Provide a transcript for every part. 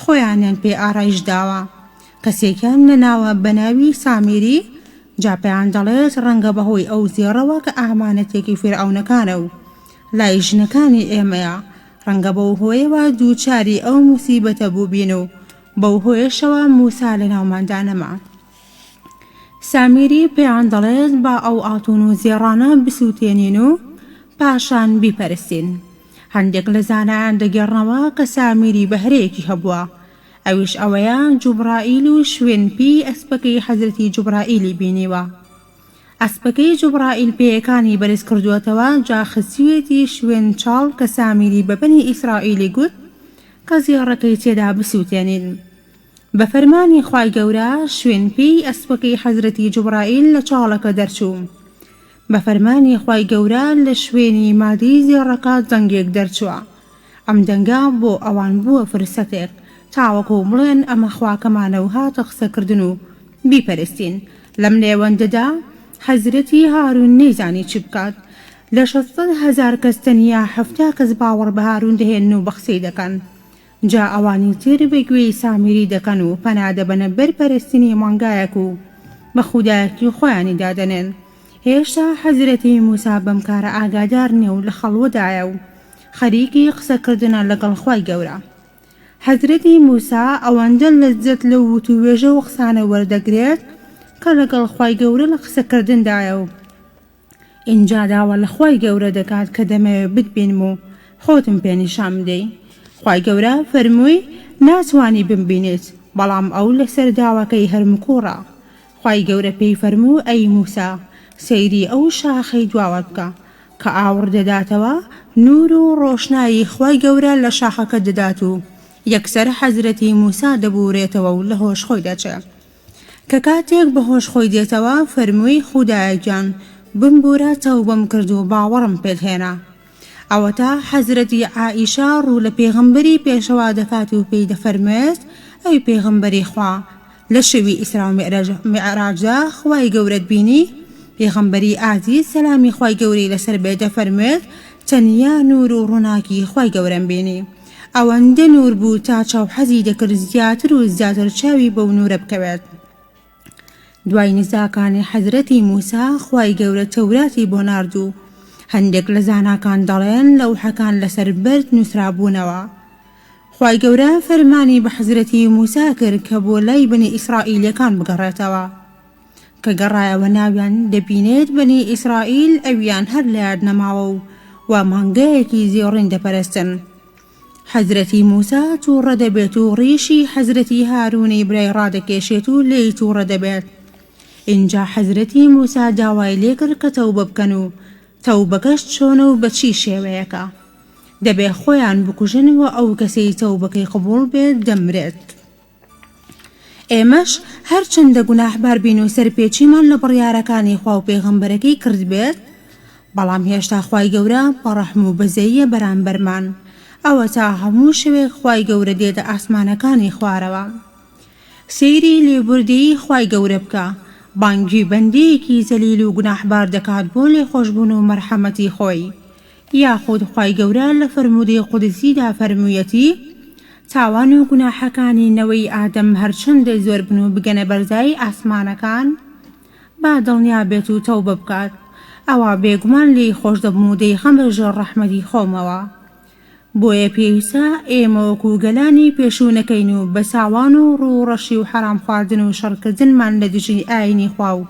خۆیانیان پێ ئارایش داوە. کەسێکیان نەناوە بە ناوی سامیری، جا پێیان دەڵێت ڕەنگە بە هۆی ئەو زێڕەوە کە ئامانەتێکی فیرعەونەکانە و لای ژنەکانی ئێمەیە، ڕەنگە بەو هۆیەوە دووچاری ئەو موسیبەتە بووبین و بەو هۆیەشەوە موسا لە ناوماندا نەما. سامیری پێیان دەڵێت با ئەو ئاڵتوون و زێڕانە بسووتێنین و پاشان بیپەرستین. هەندێک لە زانایان دەگێڕنەوە کە سامیری بەهرەیەکی هەبووە ئەویش ئەوەیە جوبڕائیل و شوێن پێی ئەسپەکەی حەزرەتی جوبڕائیلی بینیوە ئەسپەکەی جوبڕائیل پێیەکانی بەرز کردووەتەوە جا خسیوێتی شوێن چاڵ کە سامیری بە بەنی ئیسرائیلی گوت کە زێڕەکەی تێدا بسووتێنین بە فەرمانی خوای گەورە شوێن پێی ئەسپەکەی حەزرەتی جوبڕائیل لە چاڵەکە دەرچوو بە فەرمانی خوای گەورە لە شوێنی مادی زێڕەکە دەنگێک دەرچووە، ئەم دەنگە بۆ ئەوان بووە فرسەتێک تاوەکو بڵێن ئەمە خواکەمانە و هاتە قسەکردن و بیپەرستین، لەم نێوەندەدا حەزرەتی هارون نەیزانی چ بکات، لە شەست سەد هەزار کەس تەنیا حەفتا کەس باوەڕ بە هارون دەهێنن و بە قسەی دەکەن، جا ئەوانی تر بە گوێی سامیری دەکەن و پەنا دەبەنە بەر پەرستنی مانگایەک و بە خودایەتی خۆیانی دادەنێن، هێشتا حەزرەتی موسا بەم کارە ئاگادار نیە و لە خەڵوەدایە و خەریکی قسە کردنە لەگەڵ خوای گەورە. حەزرەتی موسا ئەوەندە لەززەت لەو وتووێژە و قسانە وەردەگرێت کە لەگەڵ خوای گەورە لە قسە کردندایە و، ئینجا داوا لە خوای گەورە دەکات کە دەمەوێ بتبینم و خۆتم پێ نیشان بدەی خوای گەورە فەرمووی ناتوانی بمبینیت بەڵام ئەو لەسەر داواکەی هەر مکوڕە خوای گەورە پێی فەرموو ئەی موسا سەیری ئەو شاخەی دواوەت بکە کە ئاوڕ دەداتەوە نوور و ڕۆشنایی خوای گەورە لە شاخەکە دەدات و یەکسەر حەزرەتی موسا دەبوورێتەوە و لە هۆش خۆی دەچێ کە کاتێک بە هۆش خۆی دێتەوە فەرمووی خودایە گیان بمبوورە تەوبەم کرد و باوەڕم پێت هێنا ئەوەتا حەزرەتی عائیشە ڕوو لە پێغەمبەری پێشەوا دەکات و پێی دەفەرموێت ئەی پێغەمبەری خوا لە شەوی ئیسرا و میعرەج میعراجدا خوای گەورەت بینی پێغەمبەری ئازیز سەلامی خوای گەورەی لەسەر بێت دەفەرموێت تەنیا نوور و ڕووناکی خوای گەورەم بینی ئەوەندە نوور بوو تا چاو حەزی دەکرد زیاتر و زیاتر چاوی بەو نوورە بکەوێت دوای نزاکانی حەزرەتی موسا خوای گەورە تەوراتی بۆ نارد و هەندێک لە زاناکان دەڵێن لەو حەکان لەسەر بەرد نووسرابوونەوە خوای گەورە فەرمانی بە حەزرەتی موسا کرد کە بۆ لای بنی ئیسرائیلەکان بگەڕێتەوە کە گەڕایەوە ناویان دەبینێت بەنی ئیسرائیل ئەویان هەر لەیاد نەماوە و وا مانگایەکی زێڕین دەپەرستن حەزرەتی موسا تووڕە دەبێت و ڕیشی حەزرەتی هاروونی برای ڕادەکێشێت و لێی تووڕە دەبێت ئینجا حەزرەتی موسا داوای لێکرد کە تەوبە بکەن و تەوبەکەش چۆنە و بە چی شێوەیەکە دەبێ خۆیان بکوژن و ئەو کەسەی تەوبەکەی قبوڵ بێت دەمرێت ئێمەش هەرچەندە گوناحبار بین و سەرپێچیمان لە بڕیارەکانی خوا و پێغەمبەرەکەی کردبێت بەڵام هێشتا خوای گەورە بەڕەحم و بەزەییە بەرامبەرمان ئەوەتا هەموو شەوێک خوای گەورە دێتە ئاسمانەکانی خوارەوە سەیری لێبوردەیی خوای گەورە بکە بانگی بەندەیەکی زەلیل و گوناحبار دەکات بۆ لێخۆشبوون و مەرحەمەتی خۆی یاخود خوای گەورە لە فەرموودەی قودسیدا فەرموویەتی، تاوان و گوناحەکانی نەوەی ئادەم هەرچەندە زۆر بن و بگەنە بەرزایی ئاسمانەکان، با دڵنیا بێت و تەوبە بکات، ئەوا بێگومان لێی خۆش دەبم و دەیخەمە ژێر ڕەحمەتی خۆمەوە. بۆیە پێویستە ئێمە وەکو گەلانی پێشوو نەکەین و بە تاوان و ڕووڕەشی و حەرام خواردن و شەڕکردنمان لە دژی ئایینی خوا و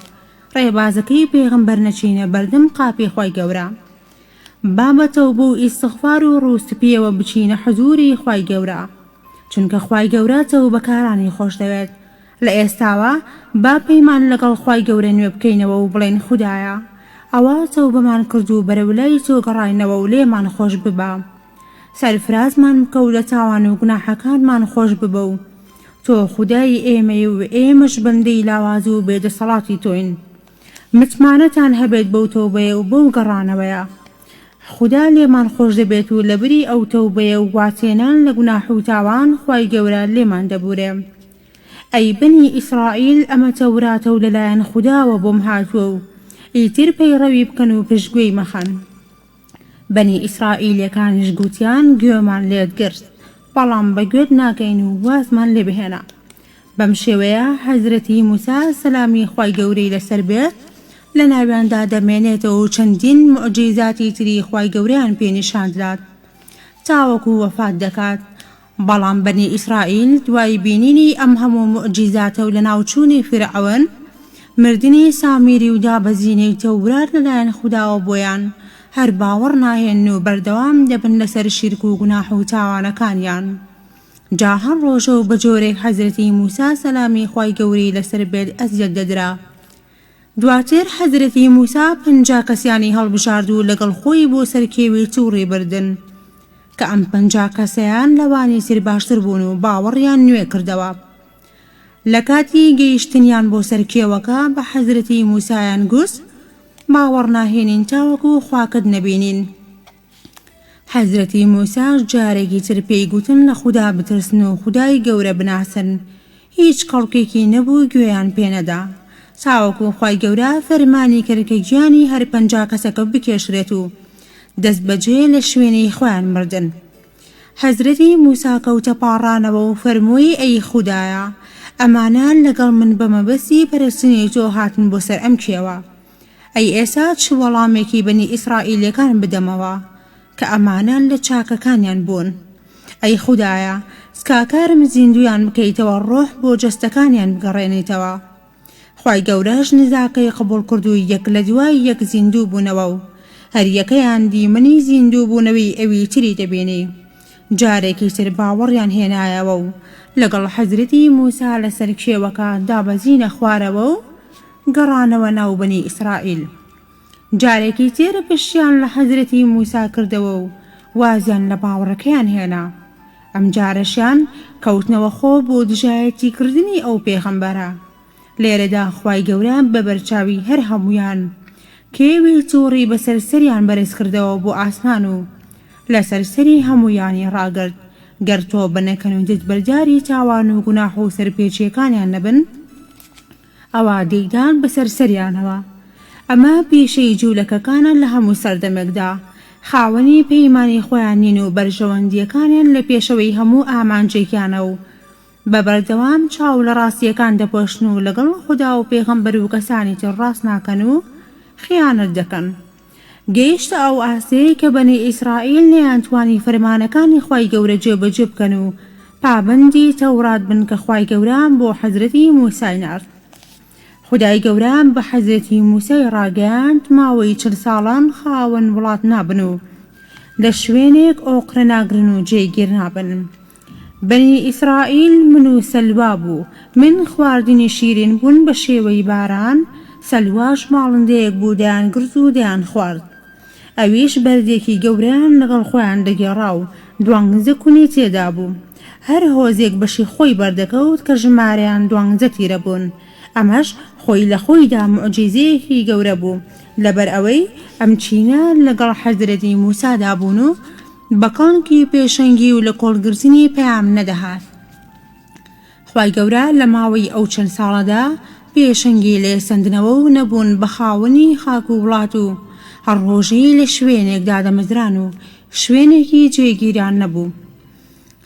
ڕێبازەکەی پێغەمبەر نەچینە بەردەم قاپی خوای گەورە با بە تەوبە و ئیستغفار و ڕوو سپیەوە بچینە حزوری خوای گەورە چونکە خوای گەورە تەوبەکارانی خۆشدەوێت لە ئێستاوە با پەیمان لەگەڵ خوای گەورە نوێ بکەینەوە و بڵێین خودایە ئەوە تەوبەمان کردو بەرەو لای تۆ گەڕاینەوە و لێمان خۆش ببە سەرفرازمان بکە و لە تاوان و گوناحەکانمان خۆش ببە و تۆ خودای ئێمەی و ئێمەش بەندەی لاواز و بێ دەسەڵاتی تۆین متمانەتان هەبێت بەو تەوبەیە و بەو گەڕانەوەیە خودا لێمان خۆش دەبێت و لەبری ئەو تەوبەیە و وازهێنان لە گوناح و تاوان خوای گەورە لێمان دەبورێ ئەی بەنی ئیسرائیل ئەمە تەوراتە و لەلایەن خوداوە بۆم هاتووە و ئیتر پەیڕەوی بکەن و پشتگوێی مەخەن. بەنی ئیسرائیلیەکانیش گوتیان گوێمان لێت گرت بەڵام بە گوێت ناکەین و وازمان لێ بهێنە بەم شێوەیە حەزرەتی موسا سەلامی خوای گەورەی لەسەر بێت لە ناویاندا دەمێنێتەوە و چەندین موعجیزاتی تری خوای گەورەیان پێ نیشان دەدات تاوەکو وەفات دەکات بەڵام بەنی ئیسرائیل دوای بینینی ئەم هەموو موعجیزاتە و لەناوچوونی فیرعەون، مردنی سامیری و دابەزینی تەورات لەلایەن خوداوە بۆیان، هەر باوەڕ ناهێنن و بەردەوام دەبن لەسەر شیرک و گوناح و تاوانەکانیان. جا هەر ڕۆژە و بەجۆرێک حەزرەتی موسا سەلامی خوای گەوری لەسەر بێت ئەزیەت دەدرا. دواتر حەزرەتی موسا پەنجا کەسیانی هەڵبژارد و لەگەڵ خۆی بۆ سەر کێوی تووڕی بردن، کە ئەم پەنجا کەسەیان لەوانی تر باشتر بوون و باوەڕیان نوێ کردەوە. لە کاتی گەیشتنیان بۆ سەر کێوەکە بە حەزرەتی موسایان گوت، باوەڕ ناهێنین تاوەکو خواکەت نەبینین. حەزرەتی موساش جارێکی تر پێی گوتن لە خودا بترسن و خودای گەورە بناسن، هیچ خەڵکێکی نەبوو گوێیان پێ نەدا، تاوەکو خوای گەورە فەرمانی کرد کە گیانی هەر پەنجا کەسەکە بکێشرێت و دەست بەجێ لە شوێنی خۆیان مردن. حەزرەتی موسا کەوتە پاڕانەوە و فەرمووی ئەی خودایە ئەمانە لەگەڵ من بە مەبەستی پەرستنی تۆ هاتن بۆ سەر ئەم کێوە، ئەی ئێسا چ وەڵامێکی بەنی ئیسرائیلیەکان بدەمەوە کە ئەمانە لە چاکەکانیان بوون ئەی خودایە سکاکارم زیندویان بکەیتەوە ڕۆح بۆ جەستەکانیان بگەڕێنیتەوە خوای گەورەش نزاکەی قبوڵ کردو یەک لە دوای یەک زیندوو بوونەوە و هەریەکەیان دیمەنی زیندوو بوونەوی ئەوی تری دەبینی جارێکی تر باوەڕیان هێنایەوە و لەگەڵ حەزرەتی موسا لەسەر کێوەکە دابەزینە خوارەوە و گەڕانەوە ناو بەنی ئیسرائیل. جارێکی تر پشتیان لە حەزرەتی موسا کردەوە و وازیان لە باوەڕەکەیان هێنا. ئەمجارەشیان کەوتنەوە خۆ بۆ دژایەتی کردنی ئەو پێغەمبەرە. لێرەدا خوای گەورە بە بەرچاوی هەر هەموویان کێوی توڕی بەسەر سەریان بەرز کردەوە بۆ ئاسمان و لەسەر سەری هەموویانی ڕاگرت گەر تۆبە نەکەن و دەتبەرداری تاوان و گوناح و سەرپێچیەکانیان نەبن ئەوا دەیدان بەسەر سەریانەوە. ئەمە پیشەی جوولەکەکانە لە هەموو سەردەمێکدا. خاوەنی پەیمانی خۆیان نین و بەرژەوەندییەکانیان لە پێشەوەی هەموو ئامانجێکیانە و بە بەردەوام چاو لە ڕاستییەکان دەپۆشن و لەگەڵ خودا و پێغەمبەر و کەسانی تر ڕاست ناکەن و خیانەت دەکەن. گەیشتە ئەو ئاستەی کە بەنی ئیسرائیل نەیانتوانی فەرمانەکانی خوای گەورە جێبەجێ بکەن و پابەندی تەورات بن کە خوای گەورە بۆ حەزرەتی موسای نارد خودای گەورە بە حەزرەتی موسای ڕاگەیاند ماوەی چل ساڵان خاوەن وڵات نابن و لە شوێنێک ئۆقرە ناگرن و جێگیر نابن بەنی ئیسرائیل من و سەلوا بوو، من خواردنی شیرین بوون بە شێوەی باران، سەلواش باڵندەیەک بوو دەیانگرز و دەیانخوارد. ئەویش بەردێکی گەورەیان لەگەڵ خۆیان دەگێڕا و دوانزە کونی تێدا بوو. هەر هۆزێک بەشی خۆی بەردەکەوت کە ژمارەیان دوانزە تیرە بوون. ئەمەش خۆی لە خۆیدا موعجیزەیەکی گەورە بوو، لەبەر ئەوەی ئەم چینە لەگەڵ حەزرەتی موسادا بوون و، بە کانکی پێشەنگی و لە کۆڵگرتنی پەیام نەدەهات خوای گەورە لە ماوەی ئەو چەند ساڵەدا پێشەنگی لێ سەندنەوە و نەبوون بە خاوەنی خاک و وڵات و هەر ڕۆژی لە شوێنێک دادەمەزران و شوێنێکی جێگیران نەبوو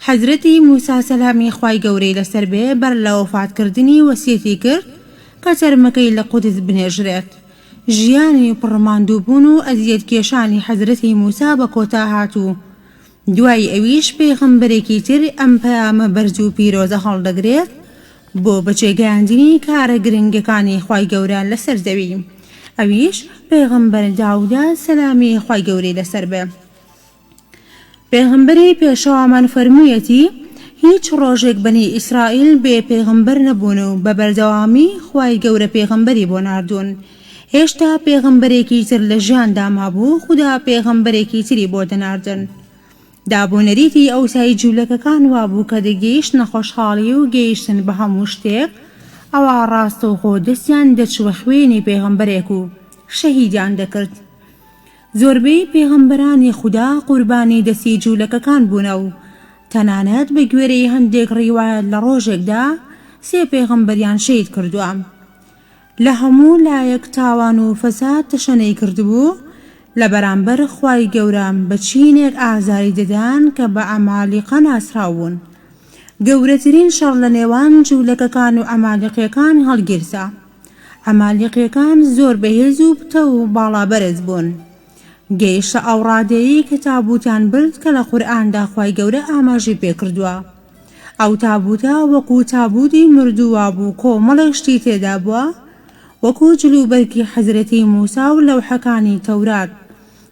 حەزرەتی موسا سەلامی خوای گەورەی لەسەر بێ بەر لە وەفاتکردنی وەسیەتی کرد کە تەرمەکەی لە قودس بنێژرێت ژیانی پڕ ماندووبوون و ئەزیەتکێشانی حەزرەتی موسا بە کۆتا هات و دوای ئەویش پێغەمبەرێکی تر ئەم پەیامە بەرز و پیرۆزە هەڵدەگرێت بۆ بەجێگەیاندنی کارە گرنگەکانی خوای گەورە لەسەر زەوی ئەویش پێغەمبەر داودە سەلامی خوای گەورەی لەسەر بێ. پێغەمبەری پێشەوامان فەرموویەتی، هیچ ڕۆژێک بەنی ئیسرائیل بێ پێغەمبەر نەبوون و بە بەردەوامی خوای گەورە پێغەمبەری بۆ ناردوون. هێشتا پێغەمبەرێکی تر لە ژیاندا مابوو خودا پێغەمبەرێکی تری بۆ دەناردن. داب و نەریتی ئەوسای جوولەکەکان وابوو کە دەگەیشتنە خۆشحاڵی و گەیشتن بە هەموو شتێک ئەوا ڕاستەوخۆ دەستیان دەچووە خوێنی پێغەمبەرێک و شەهیدیان دەکرد. زۆربەی پێغەمبەرانی خودا قوربانی دەستی جوولەکەکان بوونە و تەنانەت بە گوێرەی هەندێک ڕیوایەت لە ڕۆژێکدا سێ پێغەمبەریان شەهید کردووە لە هەموو لایەک تاوان و فەساد تەشەنەی کردبوو لە بەرامبەر خوای گەورە بە چینێک ئازاری دەدان کە بە عەمالیقە ناسراو بوون گەورەترین شەڕ لە نێوان جوولەکەکان و عەمالیقیەکان هەڵگیرسا. عەمالیقیەکان زۆر بەهێز و پتەو و باڵا بەرز بوون گەیشتە ئەوڕادەیەی کە تابوتیان برد کە لە قورئاندا خوای گەورە ئاماژەی پێکردووە ئەو تابوتە وەکو تابوتی مردوو وابوو کۆمەڵێک شتی تێدابووە وەکو جل و بەرگی حەزرەتی موسا و لەوحەکانی تەورات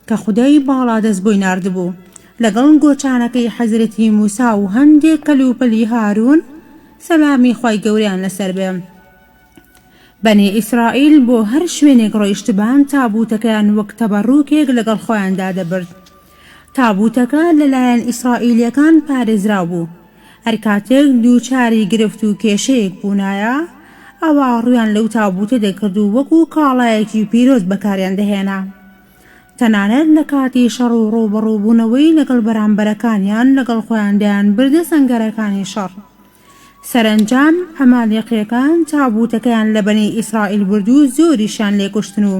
کە خودای باڵادەست بۆی ناردبوو لەگەڵ گۆچانەکەی حەزرەتی موسا و هەندێک کەلوپەلی هارون سەلامی خوای گەورەیان لەسەربێ. بەنی ئیسرائیل بۆ هەر شوێنێک ڕۆیشتبان تابووتەکەیان وەک تەبەڕووکێک لەگەڵ خۆیاندا دەبرد. تابووتەکە لەلایەن ئیسرائیلییەکان پارێزراو بوو. هەر کاتێک دووچاری گرفت و کێشەیەک بوونایە، ئەوا ڕوویان لەو تابووتە دەکرد و وەکو کاڵایەکی پیرۆز بەکاریان دەهێنا. تەنانەت لە کاتی شەڕ و ڕووبەڕووبوونەوەی لەگەڵ بەرامبەرەکانیان لەگەڵ خۆیان دەیانبردە سەنگەرەکانی شەڕ. سەرەنجام عەمالیقییەکان تابووتەکەیان لە بەنی ئیسرائیل برد و زۆریشیان لێ کوشتن و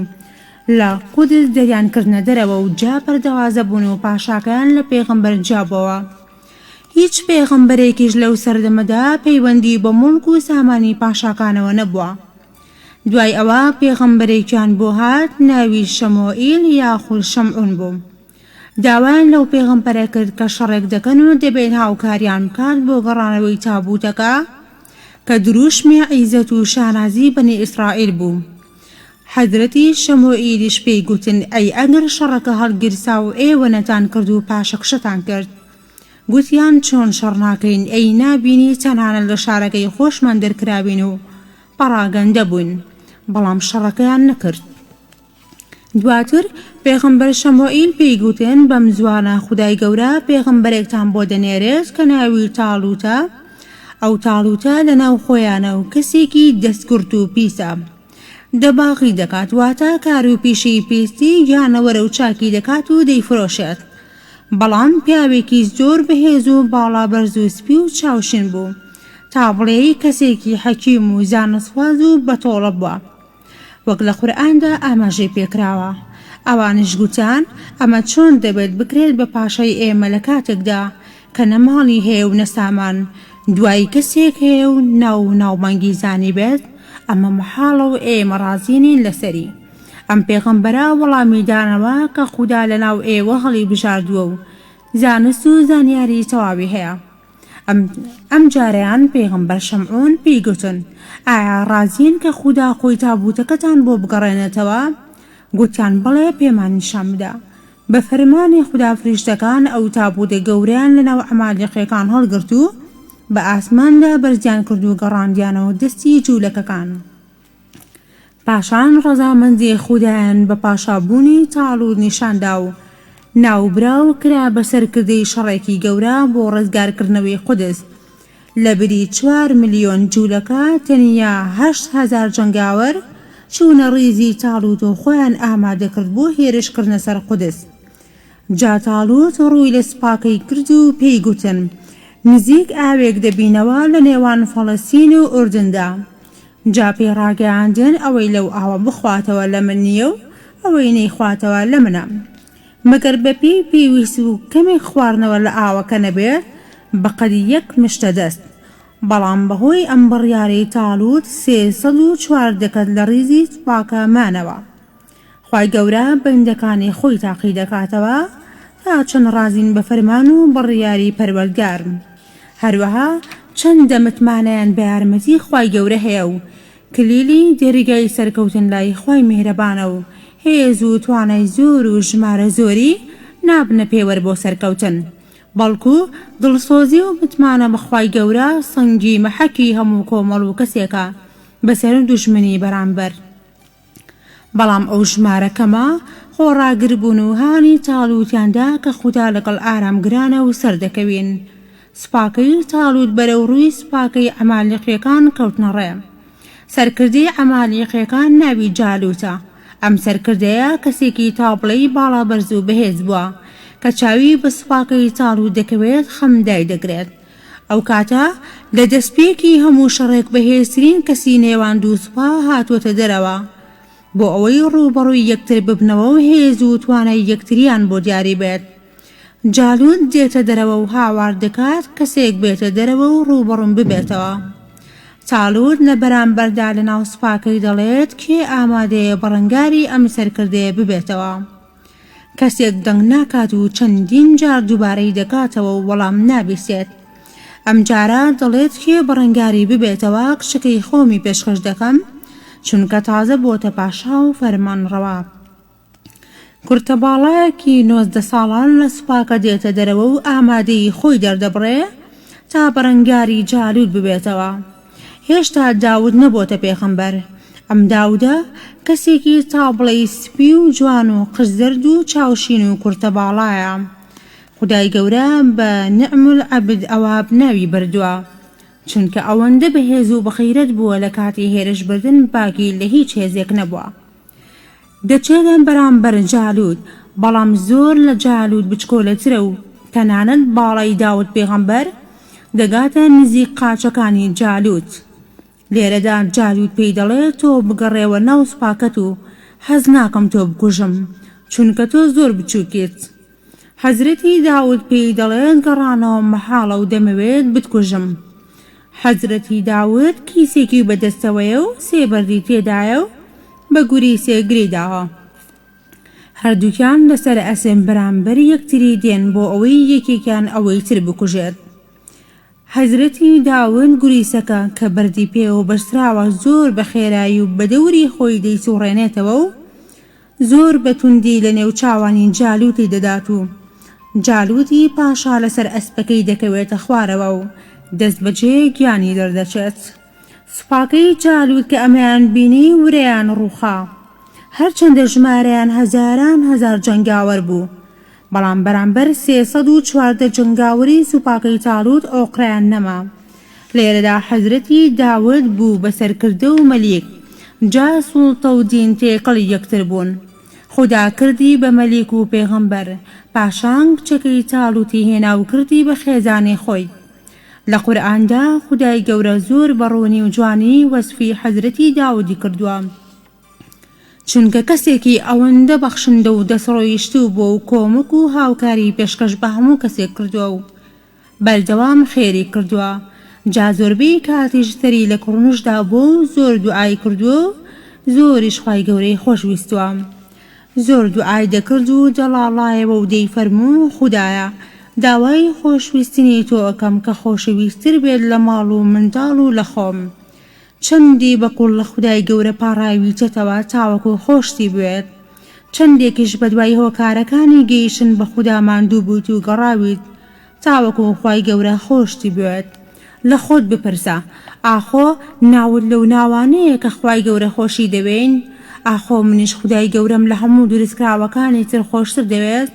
لە قودس دەریان کردنە دەرەوە و جا پەردەوازە بوون و پاشاکەیان لە پێغەمبەر جیا بۆوە. هیچ پێغەمبەرێکیش لەو سەردەمەدا پەیوەندیی بە موڵک و سامانی پاشاکانەوە نەبووە. دوای ئەوە پێغەمبەرێکیان بۆ هات ناوی شەمۆئیل یاخود شەمعون بوو. داوایان لەو پێغەمبەرە کرد کە شەڕێک دەکەن و دەبێت هاوکاریان بکات بۆ گەڕانەوەی تابووتەکە کە درووشمی عیزەت و شانازی بەنی ئیسرائیل بوو حەزرەتی شەموئیلیش پێی گوتن ئەی ئەگەر شەڕەکە هەڵگیرسا و ئێوە نەتان کرد و پاشەکشەتان کرد گوتیان چۆن شەڕ ناکەین ئەی نابینی تەنانەت لە شارەکەی خۆشمان دەرکرابین و پەڕاگەندە بووین بەڵام شەڕەکەیان نەکرد. دواتر پێغەمبەر شەموئیل پێی گوتن بەم زوانە خودای گەورە پێغەمبەرێکتان بۆ دەنێرێت کە ناوی تاڵوتە ئەو تاڵوتە لە ناو خۆیانە و کەسێکی دەستکورت و پیسە دەباغی دەکات واتە کار و پیشی پیستی گیانەوەرە و چاکی دەکات و دەیفرۆشێت بەڵام پیاوێکی زۆر بەهێز و باڵا بەرز و سپی و چاوشین بوو تا بڵێی کەسێکی حەکیم و زانستخواز و بەتۆڵە بووە وەک لە قورئاندا ئاماژەی پێکراوە. ئەوانیش گوتان، ئەمە چۆن دەبێت بکرێت بە پاشای ئێمە لە کاتێکدا کە نە ماڵی هەیە و نە سامان، دوایی کەسێک هەیە و ناو و ناوبانگی زانیبێت، ئەمە مەحاڵە و ئێمە ڕازی نین لەسەری. ئەم پێغەمبەرە وەڵامی دانەوە کە خودا لەناو ئێوە هەڵیبژاردووە و زانست و زانیاری تەواوی هەیە. ئەم جارەیان پێغەمبەر شەمعون پێی گوتن، ئایا ڕازین کە خودا خۆی تابووتەکەتان بۆ بگەڕێنێتەوە؟ گوتیان، بەڵێ پێمان نیشان بدە. بە فەرمانی خودا فریشتەکان ئەو تابووتە گەورەیان لە ناو عەمالێقییەکان هەڵگرت و بە ئاسماندا بەرزیان کرد و گەڕاندیانەوە دەستی جوولەکەکان. پاشان ڕەزامەندی خودایان بە پاشابوونی تاڵوت نیشاندا و ناوبراو کرا بە سەرکردەی شەڕێکی گەورە بۆ ڕزگارکردنەوەی قودس. لە بری چوار ملیۆن جوولەکە تەنیا هەشت هەزار جەنگاوەر چوونە ڕیزی تاڵوت و خۆیان ئامادەکرد بۆ هێرشکردنە سەر قودس. جا تاڵووت ڕووی لە سوپاکەی کرد و پێی گوتن، نزیک ئاوێک دەبینەوە لە نێوان فەڵەستین و ئوردندا. جا پێی ڕاگەیاندن، ئەوەی لەو ئاوە بخواتەوە لە من نییە و ئەوەی نەیخواتەوە لە منە. مەگەر بە پێی پێویست و کەمێک خواردنەوە لە ئاوەکە نەبێت بە قەد یەک مشتە دەست. بەڵام بە هۆی ئەم بڕیارەی تاڵووت سێ سەد و چوار دەکەت لە ڕیزی سوپاکە مانەوە. خوای گەورە بەندەکانی خۆی تاقی دەکاتەوە تا چەند ڕازین بە فەرمان و بڕیاری پەروەردگار هەروەها چەندە متمانەیان بە یارمەتی خوای گەورە هەیە و کلیلی دەریگای سەرکەوتن لای خوای میهرەبانە و هێز و توانای زۆر و ژمارە زۆری نابنە پێوەر بۆ سەرکەوتن بەڵکو دڵسۆزی و متمانە بە خوای گەورە سەنگی مەحەکی هەموو کۆمەڵ و کەسێکە بەسەر دوژمنی بەرامبەر. بەڵام ئەو ژمارە کەمە خۆڕاگر بوون و هانی تاڵووتیان دا کە خودا لەگەڵ ئارامگرانە و سەردەکەوین. سوپاکەی تاڵووت بەرەو ڕووی سوپاکەی عەمالیقییەکان کەوتنە ڕێ. سەرکردەی عەمالیقییەکان ناوی جالووتە. ئەم سەرکردەیە کەسێکی تابڵێی باڵابەرز و بەهێز بووە. کە چاوی بە سوپاکەی تاڵووت دەکەوێت خەم دایدەگرێت. ئەو کاتە لە دەستپێکی هەموو شەڕێک بەهێزترین کەسی نێوان دوو سوپا هاتووەتە دەرەوە بۆ ئەوەی ڕووبەڕووی یەکتر ببنەوە و هێز و توانای یەکتریان بۆ دیاری بێت. جالوت دێتە دەرەوە و هاوار دەکات کەسێک بێتە دەرەوە و ڕووبەڕووم ببێتەوە. تالوت لە بەرامبەردا لەناو سوپاکەی دەڵێت کێ ئامادەیە بەڕەنگاری ئەم سەرکردەیە ببێتەوە؟ کەسێک دەنگ ناکات و چەندین جار دوبارەی دەکاتەوە و وەڵام نابیسێت ئەم جارە دەڵێت کێ بەڕەنگاری ببێتەوە کچەکەی خۆمی پێشکەش دەکەم چونکە تازە بۆتە پاشا و فەرمان ڕەوا کورتە باڵایەکی نۆزدە ساڵان لە سوپاکە دێتە دەرەوە و ئامادەیی خۆی دەردەبڕێ تا بەرەنگاری جالوود ببێتەوە. هێشتا داود نەبۆتە پێغەمبەر ئەم داودە کەسێکی تا بڵێی سپی و جوان و قژ زەرد و چاو شین و کورتە باڵایە خودای گەورە بە نعم العبد اواب ناوی بردوە چونکە ئەوەندە بەهێز و بەغیرەت بووە لە کاتی هێرش بردن باکی لە هیچ هێزێک نەبوە. دەچێتە بەرامبەر جالوت بەڵام زۆر لە جالوت بچکۆلەترە و تەنانەت باڵای داود پێغەمبەر دەگاتە نزیک قاچەکانی جالوت لێرەدا جالوت پێی دەڵێ تۆ بگەڕێوە ناو سوپاکەت و حەز ناکەم تۆ بکوژم چونکە تۆ زۆر بچووکیت حەزرەتی داود پێی دەڵێت گەڕانەوە مەحاڵە و دەمەوێت بتکوژم. حەزرەتی داود کیسێکی بە دەستەوەیە و سێ بەردی تێدایە و بە گوری سێ گرێی داوە. هەردووکیان لەسەر ئەسپ بەرامبەر یەکتری دێن بۆ ئەوەی یەکێکیان ئەوەی تر بکوژێت. حەزرەتی داوند گوریسەکە کە بەردی پێوە بەستراوە زۆر بە خێرایی و بە دەوری خۆی دەیسوڕێنێتەوە و زۆر بە توندی لە نێو چاوانی جالوتی دەدات و جالوتی پاشا لە سەر ئەسپەکەی دەکەوێتە خوارەوە و دەست بە جێ گیانی دەردەچێت. سوپاکەی جالوت کە ئەمەیان بینی ورەیان ڕووخا. هەرچەندە ژمارەیان هەزاران هەزار جەنگاوەر بوو. بەڵام بەرامبەر سێ سەد و چواردە جەنگاوەری سوپاکەی تاڵوت ئۆقرەیان نەما. لێرەدا حەزرەتی داود بوو بە سەرکردە و مەلیک، جا سوڵتە و دین تێکەڵی یەکتر بوون. خودا کردی بە مەلیک و پێغەمبەر، پاشان کچەکەی تاڵوتی هێنا و کردی بە خێزانی خۆی. لە قورئاندا خودای گەورە زۆر بە ڕوونی و جوانی وەسفی حەزرەتی داودی کردووە. چونکە کەسێکی ئەوەندە بەخشندە و دەستڕۆیشتوو بووە و کۆمەک و هاوکاری پێشکەش بە هەموو کەسێک کردووە و بەردەوام خێری کردووە جا زۆربەی کاتیش سەری لە کوڕنوش دابووە و زۆر دوعای کردووە و زۆریش خوای گەورەی خۆش ویستووە زۆر دوعای دەکرد و دەڵاڵایەوە و دەیفەرموو خودایە داوای خۆشویستنی تۆ ئەکەم کە خۆشەویستتر بێت لە ماڵ و منداڵ و لە خۆم. چەندی بە قووڵ لە خودای گەورە پاڕاویتەتەوە تاوەکو خۆشتی بوێت، چەندێکیش بەدوای هۆکارەکانی گەیشتن بە خودا ماندوو بوویت و گەڕاویت تاوەکو خوای گەورە خۆشتی بوێت؟ لە خۆت بپرسە، ئاخۆ ناوت لەو ناوانەیە کە خوای گەورە خۆشی دەوێین؟ ئاخۆ منیش خودای گەورەم لە هەموو دروستکراوەکانی تر خۆشتر دەوێت؟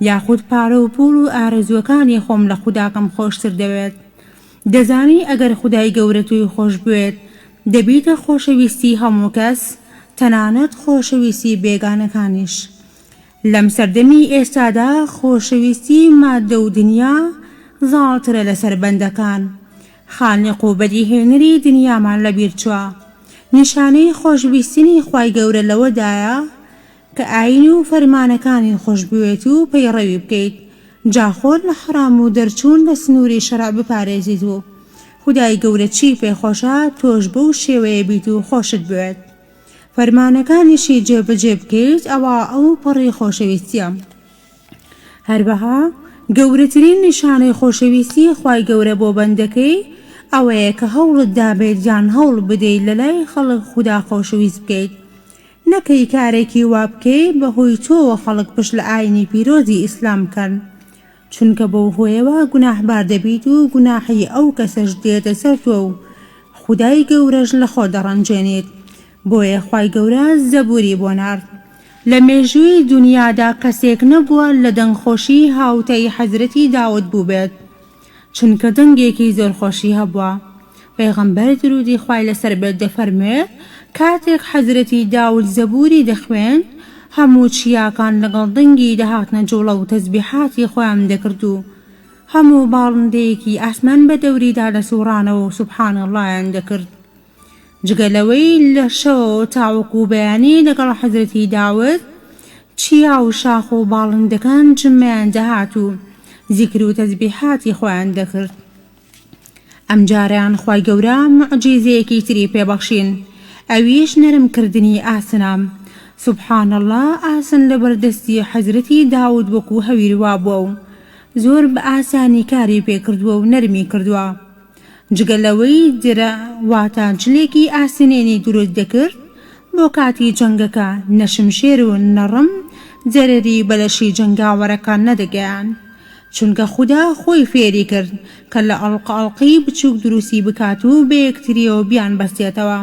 یاخود پارە و پووڵ و ئارەزووەکانی خۆم لە خوداکەم خۆشتر دەوێت؟ دەزانی ئەگەر خودای گەورە تۆی خۆشبوێت دەبیتە خۆشەویستی هەموو کەس تەنانەت خۆشەویستی بێگانەکانیش لەم سەردەمی ئێستادا خۆشەویستی ماددە و دنیا زاڵترە لەسەر بەندەکان خالق و بەدیهێنەری دنیامان لەبیرچوە نیشانەی خۆشویستنی خوای گەورە لەوەدایە کە ئایین و فەرمانەکانی خۆش بوێت و پەیڕەوی بکەیت، جا خۆت لە حەڕام و دەرچوون لە سنووری شەرع بپارێزیت و خودای گەورە چی پێ خۆشە تۆش بەو شێوەیە بیت و خۆشت بوێت فەرمانەکانیشی جێبەجێ بکەیت ئەوا ئەو پەڕی خۆشەویستییە. هەروەها گەورەترین نیشانەی خۆشەویستی خوای گەورە بۆ بەندەکەی ئەوەیە کە هەوڵت دابێت یان هەوڵ بدەیت لەلای خەڵک خودا خۆشەویست بکەیت، نەکەی کارێکی وا بکەی بەهۆی تۆوە خەڵک پشت لە ئاینی پیرۆزی ئیسلام بکەن چونکە بەو هۆیەوە گوناحبار دەبیت و گوناحی ئەو کەسەش دێتە سەر تۆ و خودای گەورەش لە خۆت دەڕەنجێنیت بۆیە خوای گەورە زەبوری بۆ نارد لە مێژووی دونیادا کەسێک نەبووە لە دەنگخۆشی هاوتای حەزرەتی داود بووبێت چونکە دەنگێکی زۆر خۆشی هەبووە. پێغەمبەر درودی خوای لەسەر بێت دەفەرموێ، کاتێک حەزرەتی داود زەبوری دەخوێند هەموو چیاکان لەگەڵ دەنگی دەهاتنە جوڵە و تەزبیحاتی خۆیان دەکرد و هەموو باڵندەیەکی ئاسمان بەدەوریدا دەسوڕانەوە و سبحان اللە یان دەکرد. جگە لەوەی لە شەوەوە تاوەکو بەیانی لەگەڵ حەزرەتی داود چیا و شاخ و باڵندەکان جمەیان دەهات و زیکر و تەزبیحاتی خۆیان دەکرد ئەمجارەیان خوای گەورە معجیزەیەکی تری پێبەخشین ئەویش نەرم کردنی ئاسنە سبحان اللە ئاسن لەبەر دەستی حەزرەتی داود وەکو هەویر وابووە و زۆر بە ئاسانی کاری پێکردووە و نەرمی کردووە جگە لەوەی درع واتە جلێکی ئاسنینی دروست دەکرد بۆ کاتی جەنگەکە، نە شمشێر و نە ڕم زەرەری بە لەشی جەنگاوەرەکان نەدەگەیاند، چونکە خودا خۆی فێری کرد کە لە ئەڵق ئەڵقی بچووک دروستی بکات و بە یەکتریەوە بیانبەستێتەوە.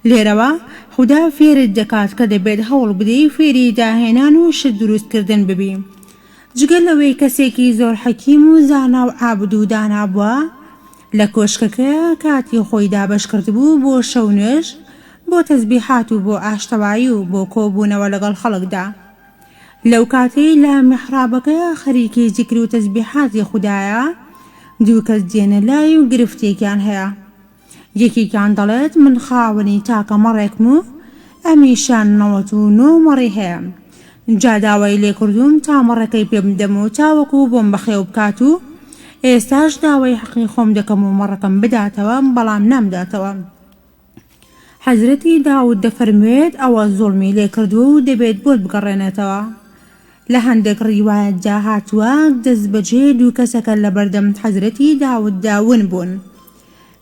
لێرەوە خودا فێرت دەکات کە دەبێت هەوڵ بدەی فێری داهێنان و شت دروست کردن ببی. جگە لەوەی کەسێکی زۆر حەکیم و زانا و عابد و دانا بووە، لە کۆشکەکەیا کاتی خۆی دابەش کردبوو بۆ شەو نوێژ، بۆ تەزبیحات و بۆ ئاشتەوایی و بۆ کۆبوونەوە لەگەڵ خەڵکدا. لەو کاتەی لە میحرابەکەیا خەریکی زیکر و تەزبیحاتی خودایە، دوو کەس دێنە لای و گرفتێکیان هەیە. یەکێکیان دەڵێت من خاوەنی تاکە مەڕێکم و ئەمیشە نەوەت و نۆ مەڕی هەیە، جا داوای لێکردووم تا مەڕەکەی پێ بدەم و تاوەکو بۆم بەخێو بکات و ئێستاش داوای حەقی خۆم دەکەم و مەڕەکەم بداتەوە، بەڵام نامداتەوە. حەزرەتی داود دەفەرموێت ئەوە زوڵمی لێکردووە و دەبێت بۆت بگەڕێنێتەوە. لە هەندێک ڕیوایەتدا هاتووە دەستبەجێ دوو کەسەکە لەبەردەم حەزرەتی داوددا ون بوون.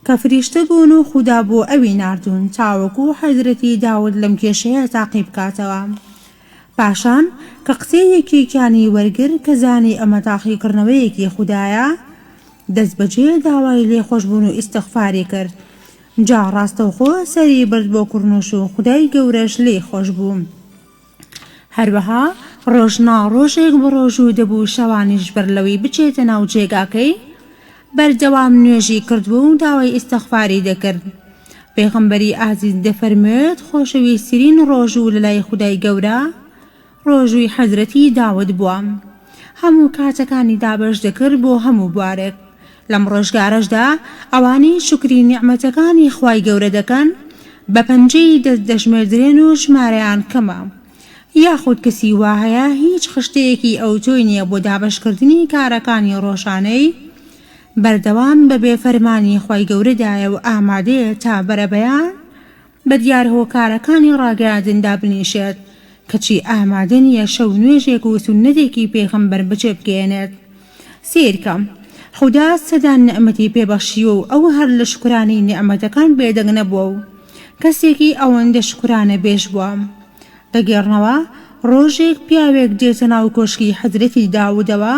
کە فریشتە بوون و خودا بۆ ئەوی ناردوون تاوەکو حەزرەتی داود لەم کێشەیە تاقی بکاتەوە. پاشان کە قسەی یەکێکیانی وەرگر کە زانی ئەمە تاقی کڕنەوەیەکی خودایە دەست بەجێ داوای لێخۆشبوون و ئیستغفاری کرد جا ڕاستەوخۆ سەری برد بۆ کڕنوش و خودای گەورەش لێی خۆش بوو. هەروەها ڕۆژ نا ڕۆژێک بەڕۆژوو دەبوو شەوانیش بەر لەوەی بچێتە ناو جێگاکەی بەردەوام نوێژی کردووە و داوای ئیستغفاری دەکرد پێغەمبەری ئازیز دەفەرموێت خۆشەویسترین ڕۆژوو لەلای خودای گەورە ڕۆژووی حەزرەتی داود بووە هەموو کاتەکانی دابەش دەکرد بۆ هەموو بوارێک لەم ڕۆژگارەشدا ئەوانەی شوکری نیعمەتەکانی خوای گەورە دەکەن بە پەنجەی دەست دەژمێردرێن و ژمارەیان کەمە، یاخود کەسی وا هەیە هیچ خشتەیەکی ئەوتۆی نیە بۆ دابەشکردنی کارەکانی ڕۆژانەی، بەردەوام بەبێ فەرمانی خوای گەورەدایە و ئامادەیە تا بەرەبەیان بەدیار هۆکارەکانی ڕاگەیاندن دابنیشێت، کەچی ئامادە نیە شەو نوێژێک و سوننەتێکی پێغەمبەر بەجێبگەیەنێت، سەیرکە خودا سەدان نیعمەتی پێ بەخشیوە و ئەو هەر لە شوکرانەی نیعمەتەکان بێدەنگ نەبووە و کەسێکی ئەوەندە شوکرانە بێژ بووە. دەگێڕنەوە، ڕۆژێک پیاوێک دێتە ناو کۆشکی حەزرەتی داودەوە،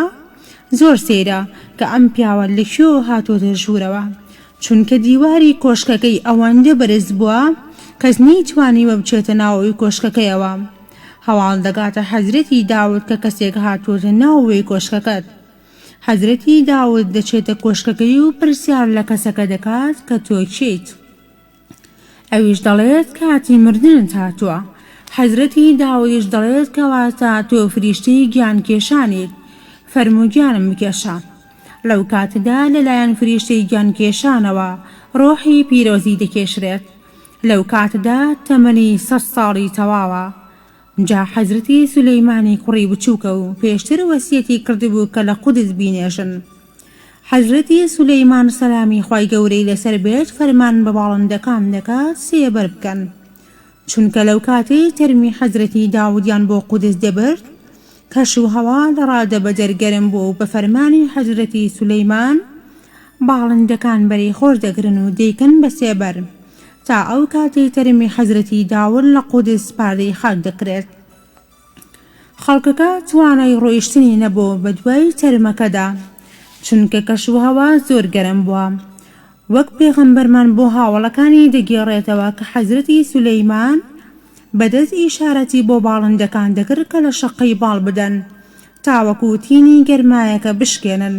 زۆر سەیرە کە ئەم پیاوە لە کوێ هاتووەتە ژوورەوە، چونکە دیواری کۆشکەکەی ئەوەندە بەرز بووە کەس نەیتوانیوە بچێتە ناو کۆشکەکەیەوە. هەواڵ دەگاتە حەزرەتی داود کە کەسێک هاتووەتە ناوەوەی کۆشکەکەت. حەزرەتی داود دەچێتە کۆشکەکەی و پرسیار لە کەسەکە دەکات کە تۆ کێیت؟ ئەویش دەڵێت کاتی مردنت هاتووە. حەزرەتی داودیش دەڵێت کەواتە تۆ فریشتەی گیانکێشانیت، فەرموو گیانم بکێشە. لەو کاتەدا لەلایەن فریشتەی گیانکێشانەوە ڕۆحی پیرۆزی دەکێشرێت. لەوکاتەدا تەمەنی سەد ساڵی تەواوە. جا حەزرەتی سولەیمانی کوڕی بچووکە و پێشتر وەسیەتی کردبوو کە لە قودس بینێژن. حەزرەتی سولەیمان سەلامی خوای گەورەی لەسەر بێت فەرمان بە باڵندەکان دەکات سێبەر بکەن. چونکە لەوکاتەی تەرمی حەزرەتی داودیان بۆ قودس دەبرد، کەش و هەوا لە ڕادەبەدەر گەرم بووە و بە فەرمانی حەزرەتی سولەیمان باڵندەکان بەرەی خۆر دەگرن و دەیکەن بە سێ بەر تا ئەو کاتەی تەرمی حەزرەتی داوود لە قودس سپاردەی خاک دەکرێت. خەڵکەکە توانای ڕۆیشتنی نەبوو بەدوای تەرمەکەدا چونکە کەش و هەوا زۆر گەرم بووە. وەک پێغەمبەرمان بۆ هاوەڵەکانی دەگێڕێتەوە کە حەزرەتی سولەیمان بە دەست ئیشارەتی بۆ باڵندەکان دەکرد کە لە شەققەی باڵ بدەن تاوەکو تینی گەرمایەکە بشکێنن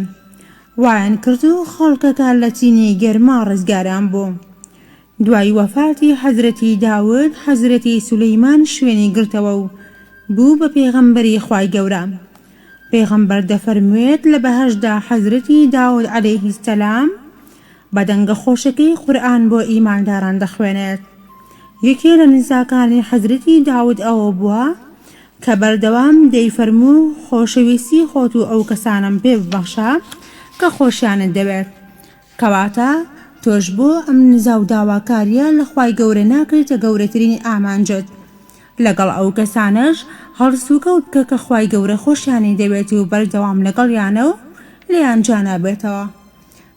وایان کرد و خەڵکەکە لە تینی گەرما ڕزگاریان بوو دوای وەفاتی حەزرەتی داود حەزرەتی سولەیمان شوێنی گرتەوە و بوو بە پێغەمبەری خوای گەورە پێغەمبەر دەفەرموێت لە بەهەشتدا حەزرەتی داود علیە سلام بە دەنگە خۆشەکەی قورئان بۆ ئیمانداران دەخوێنێت یەکێ لە نزاکانی حەزرەتی داود ئەوە بووە کە بەردەوام دەیفەرموو خۆشەویستی خۆت و ئەو کەسانەم پێ ببەخشە کە خۆشیانت دەوێت کەواتە تۆش بۆ ئەم نزا و داواکاریە لە خوای گەورە ناکەیتە گەورەترین ئامانجت لەگەڵ ئەو کەسانەش هەڵسوکەوت بکە کە خوای گەورە خۆشیانی دەوێت و بەردەوام لەگەڵیانە و لێیان جیانابێتەوە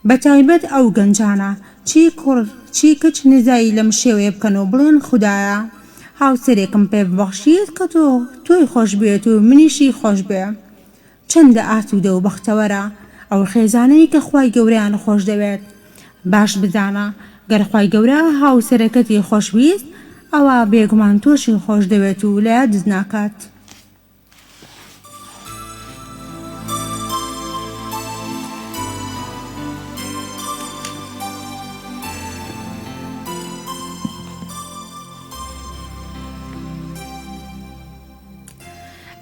بەتایبەت ئەو گەنجانە چی کوڕ چی کچ نزای لەم شێوەیە بکەن و بڵێن خودایە هاوسەرێکم پێ ببەخشیت کە تۆ تۆی خۆشبوێت و منیشی خۆشبێ چەندە ئاسوودە و بەختەوەرە ئەو خێزانەی کە خوای گەورەیان خۆش دەوێت، باش بزانە گەر خوای گەورە هاوسەرەکەتی خۆش ویست ئەوا بێگومان تۆشی خۆش دەوێت و لە یادت ناکات.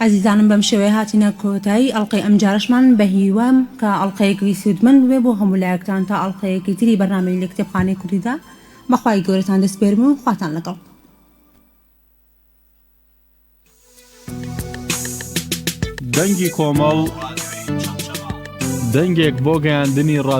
ئەزیزانم بەم شێوەیە هاتینە کۆتایی ئەڵلقەی ئەمجارەشمان بەهیوام کە ئەڵلقەیەکی سوودمەند بێ بۆ هەموو لایەکتان تا ئەڵلقەیەکی تری بەرنامەی لە کتێبخانەی کوردیدا بەخوای گەورەتان دەسپێرم و خواتان لەگەڵ. دەنگی کۆمەڵ، دەنگێک بۆ گەیاندنی ڕاستییەکان.